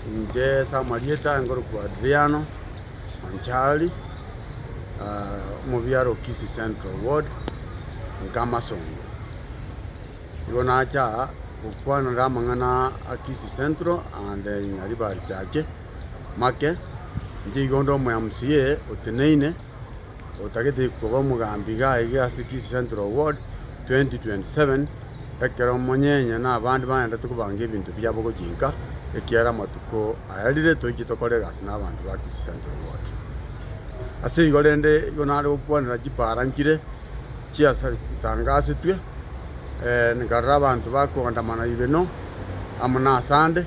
Inche ase amarieta aye ngorokwa Adriano Wanchali, omobiaro o Kisii Central Ward, Nkamasongo. Igo nacha aa gokwanera amang'ana a Kisii Central and Nyaribari Church make, inche igo onde omo MCA oteneine otagete koba omogambi iga aige ase Kisii Central Ward 2027 ekero omonyenye na abande baendete kobanga ebinto biabo gochia inka ekiagera amatuko ayarire toiche tokore egasi na abanto ba Kisii Central Ward. Ase igo rende igo nare gokwanera chipara nchire chiatangasetwe nkarora abanto bakoandamana Ibeno amo na Asande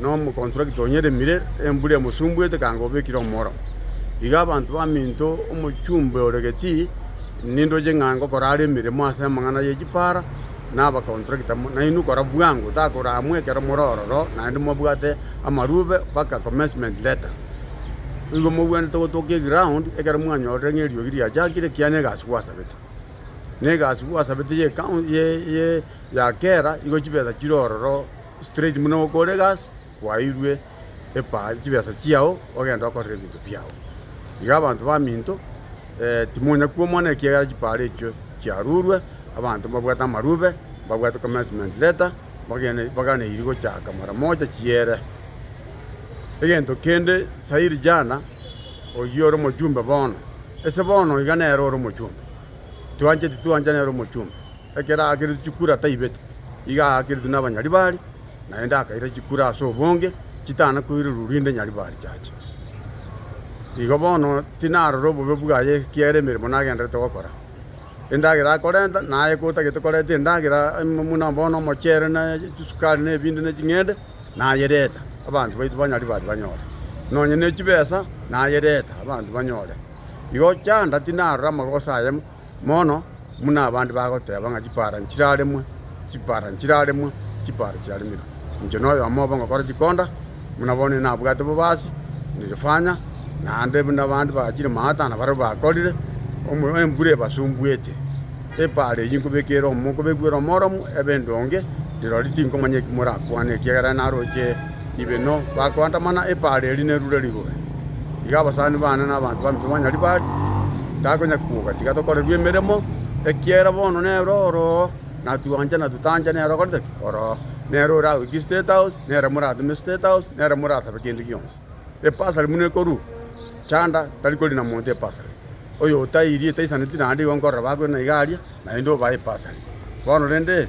na omokontrakita onyeremire, embura emosumbuete kanga obekire omworemo. Iga abanto baminto omochumbe ore Getii, nindoche ng'a ngokora are emeremo ase amang'ana ye chipara na abakontrakita, nainwe kora bwango, takoraamwa ekero more ororo naende mwabwate amarube mpaka commencement letter. Igo mobwenerete gotokia eground ekero mwanyorire ng'a eriogi riachakire ekiagera na egasi gwasabete. Na egasi gwasabete ye ya kera igo chibesa chire ororo. straight buna goka ore egasi kwairwe epa chibesa chiao ogende okorere ebinto biao. Iga abanto baminto timonya kwomana ekiagera chiparo echio chiarurwe abanto mbabwate amarube mbabwate commencement letter bagene baganeiri gochaka mara moja chiere. Egento kende sairi jana oyio ore omojumbe bono ase bono iga nere ore omojumbe twancheti twancha nere omojumbe. ekero aakeretwe chikura taibete, iga aakeretwe n'abanyaribari, naende akaira chikura ase obonge chitana koirerwa rinde nyaribari chiache. Igo bono tinarora obobe bwaye ekiagera emeremo nagenderete gokora, endagera akorenta, naye kotagete koreta endagera ime buna bono omochere na chisukari na ebinto na ching'ende, nayereta abanto baito banyaribari banyore, nonye ne chibesa nayereta abanto banyore. Igo chanda tinarora amagoso aye. mono buna abande bagoteba ng'a chipara nchiraremwe, chipara nchiraremwe, chipara chiaremirwe. Inche noyomo obo ngokora chikonda, buna bono inabwate bobasi, nirifanya, naende buna abande bachire maata na barabwo bakorire, omo- embura ebasumbuete, epara eyio nkobekere omo- nkobekweire omoromo ebe endonge, rirorio tinkomanya eki morakwane, ekiagera naroche. Ibeno bakoandamana epaaro eria nerure rigure. Iga abasani bane na abanto bambe banywa ribari, takonya kuoga, tiga tokorerwe emeremo, ekiera bono nere oroo, na twanche na totanche nere okorete ki? Oroo. Nere oragoikie State House, nere morateme State House, nere morasabe kende gionsi. Ebasari buna ekorwa, chanda tari korina monto ebasari. Oyo otairie, taisaneti naende igo nkorora bakorina iga aria, naende obae ebasari. Bono rende,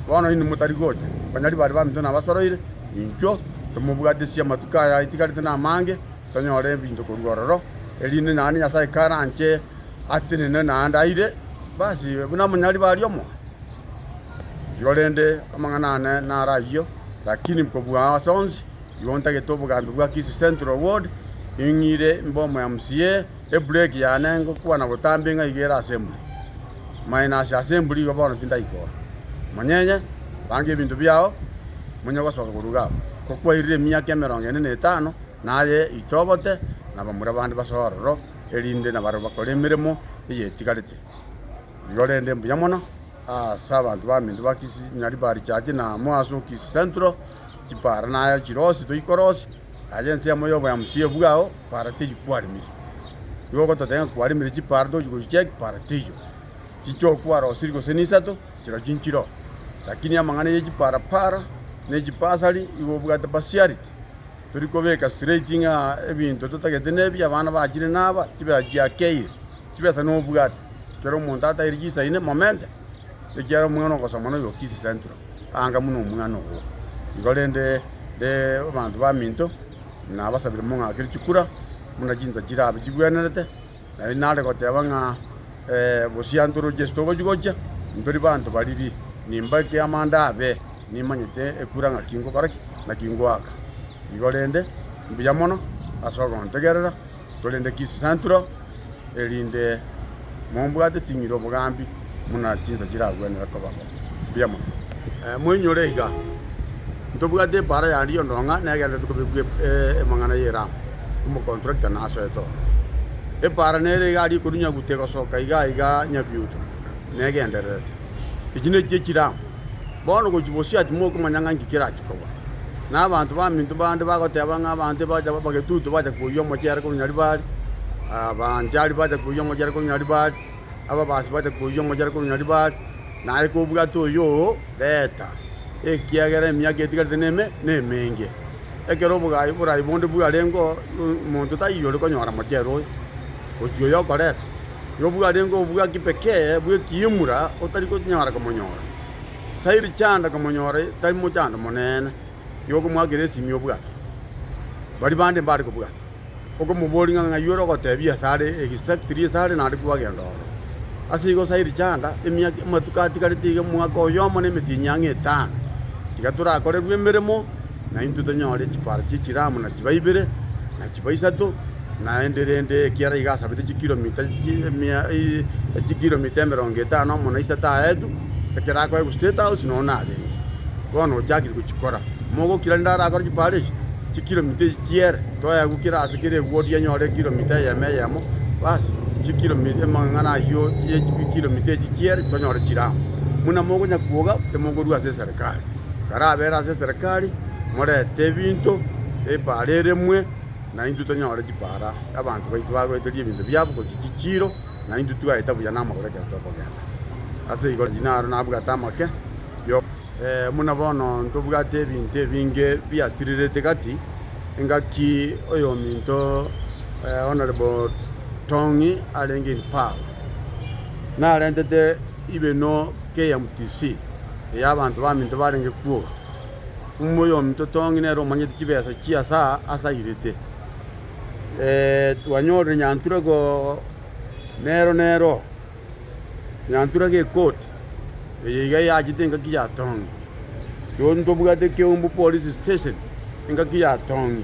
Bono inwe motari gocha, banyari bare baminto nabasoroire, intwe tomobwatisia amatuko aya aitigarete namange, tonyore ebinto korwa ororo, erinde naende Nyasae karanche atenenwe naende aire, basi, buna amanyari baria omo igo rende amang'ana ane naro ayio, lakini kobua ase onsi, igo ntagete obogambi bwa Kisii Central Ward, ing'ire mbe omoyamca. Ebureki yane ngokwana botambe ng'a iga ere ase emburi. Minus ase emburi igo bono tindaikora. Monyenye, banga ebinto biao, monye ogosoka koruga aba. Kokwairire emiaka emerongo ene na etano, naye itobote, nabamura abande basoe ororo, erinde nabarabwo bakore emeremo eye etigarete. Igo rende mbuya mono ase abanto baminto ba Kisi Nyaribari Church na amo ase o Kisi Central, chipara naye chire onsi toikore onsi, Ase ensemo y'oboyambi pi bwao paradiso kwarimire. Nigo ogototebia ng'a kwarimire chiparadiso gochia chia ekiparadiso, chichokwa rosiri gose nisato, chiro chinchiro. Lakini amang'ana ye chiparapara, ne chibasari igo obwate partiality. Tori kobeka straight ng'a ebinto totagete nebi, abana bachire naba, chibesa chiakeire. chibesa nobwate, ekero omonto ataiire chinsa ine, momente, ekiagera omwana ogosoma noyo kisi central, anga buna omwana oo. Igo rende abanto baminto nabasabire mong'akere chikura buna chinsa chirabe chigwenerete, naende nare goteba ng'a bosio anto roche ase togochi gocha, ntori banto bariri, nimba ekiama ndabe nimanyete ekura ng'aki ngokora ki, naki ngoaka. Igo rende, mbuya mono ase ogontegerera. korende chisanturo, erinde mombwate ching'iri obogambi buna chinsa chiragwenerere koba bo. Mbuya mono. Moinyore iga, ntobwate epaara ya Rio ndong'a negenderete kobekwa emang'ana ye Ram, omokontrakita nasoete oo. Epaara nere iga aria ekorwa nyagute gosoka iga iga nyabiuto negendererete. Echi nechi echiramu. Bono gochia bosio ati mokomanya ng'a nki kerachie koba. Na abanto baminto bande bagoteba ng'a abanto ebacha abagetutu bacha koyia omochere korwa Nyaribari, Abanchari bacha koyia omochere korwa Nyaribari, Ababasi bacha koyia omochere korwa Nyaribari, naye kobwate oyoo reta, ekiagera emiaka etigarete neme nemenge. Ekero obogaai oborai bonde bwarengeo, omonto taiyo ore konyora mochere oyo, gochia oyo okoreta. nigo bwarenge obwaki pekee bw'ekiimura otari konyara komonyora. Sairi chanda komonyora tari mochando monene, nigo okomoakera esimi obwate. Baria bande mbare kobwata, okomoboria ng'a ng'ai ore ogotebia ase are egisaki keria ase are naende kwagenda ororo. Ase igo sairi chanda emiaka amatuko atigarete iga omwaka oyomo na emetinyi ang'e etano, tiga torakorerwe emeremo. na intwe tonyore chipara chie chiramu na chiba ibere, na chiba isato, naende rende ekiara iga asabete chikiromita chimia chikiromita emerongo etano amo na isato aetu, ekero akoe gose State House nonya narenge. Bono ochakire gochikora. Mogokira rende arakore chipara echi, chikiromita echi chiere, toegwe kera ase kera ewodi enyore ekiromita eyemo eyemo, basi chikiromita amang'ana ayio ye chikiromita echi chiere tonyore chiramu. Buna mokonya kwoga, timokorua ase eserekari. karabeera ase eserekari, morete ebinto, epaara eremwe, na intwe tonyore chipaara. Abanto baito bagoeteria ebinto biabo gochia chichiiro, na intwe twaeta buya namagoro ekero tokogenda. Ase igo inaro nabwate amake yo. Buna bono ntobwate ebinto ebinge biasirirete gati, engaki oyominto Honourable Tong'i arenge in power, narentete. Ibeno k'eya mtc ey'abanto baminto barenge kwoga, omumo oyominto tong'i nere omanyete chibesa chia saa ase airete. Twanyorire Nyantura go nero nero, Nyantura gekoti eye iga eyachete engaki yatong'i. Toni tobwate Keumbu Police Station engaki yatong'i.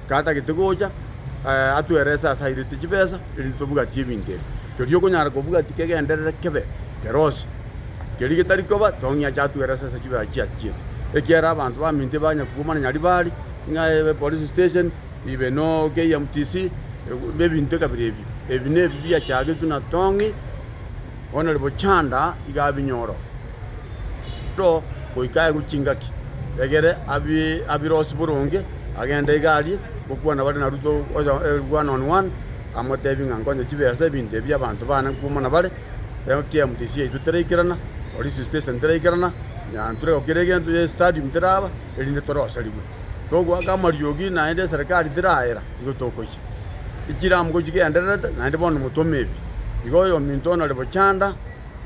Gatagete gocha atwerese ase airete chibesa erinde tobugatie ebinto ebi. Keria okonyara kobugatia kegenderere kebe kerose, keria getari koba tong'ie ache atwerese ase chibesa echi achiete. Ekiagera abanto baminto ebanya koguma nonya ribari, ng'a police station, ibe no KMTC, ebinto kabere ebi. Ebi nebi biachagetwe na tong'ie. Bono rirorio chanda iga abinyoro to goika aegwe chingaki, egere abirosie boronge, agende iga arie gokwana bare na Ruto one on one, amotebie ng'a nkonye chibesa ebinto ebi abanto baane nkwomwa nabare, KMTC yaito teraikerana, Police Station teraikerana, Nyanturego kera egento ya Stadium teraba, erinde torosarigwe. Togoaka amariogi naende eserekari teraera, nigo tokoyia. echiramgo chigendererete, naende bono motome ebi. Iga oyominto onore bochanda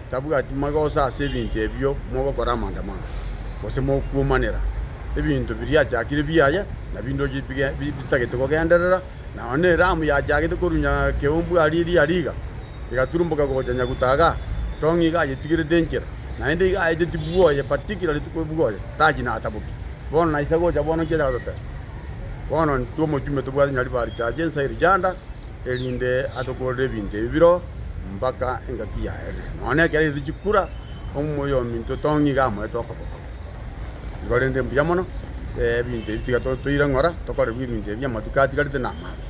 tabwati magoso ase ebinto ebio mogokora amandamano, gose mokuomanera ebinto biriachakire biaye, na bindoche bige bitagete kogenderera, na onye eramu yachagete korunya keumbu aria eria riga, egaturumboka gocha Nyagutaga, tong'i iga ayetigerete enchera, naende iga aeteti bwoye, particularly tikoe bwoye, tachi nataboki. Bono naisa gocha bono nki achaka goteba? Bono intwe omochumbe tobwate Nyaribari tacha ensa ye riganda, erinde atokorere ebinto ebi biro mpaka engaki yaerire. Nonya ekero erire chikura, omoyo ominto tong'e iga amoete okoboko. Igo rende mbuya mono, ebinto ebi tiga totoire ng'ora, tokorerwe ebinto ebi amatuko atigarete na amato.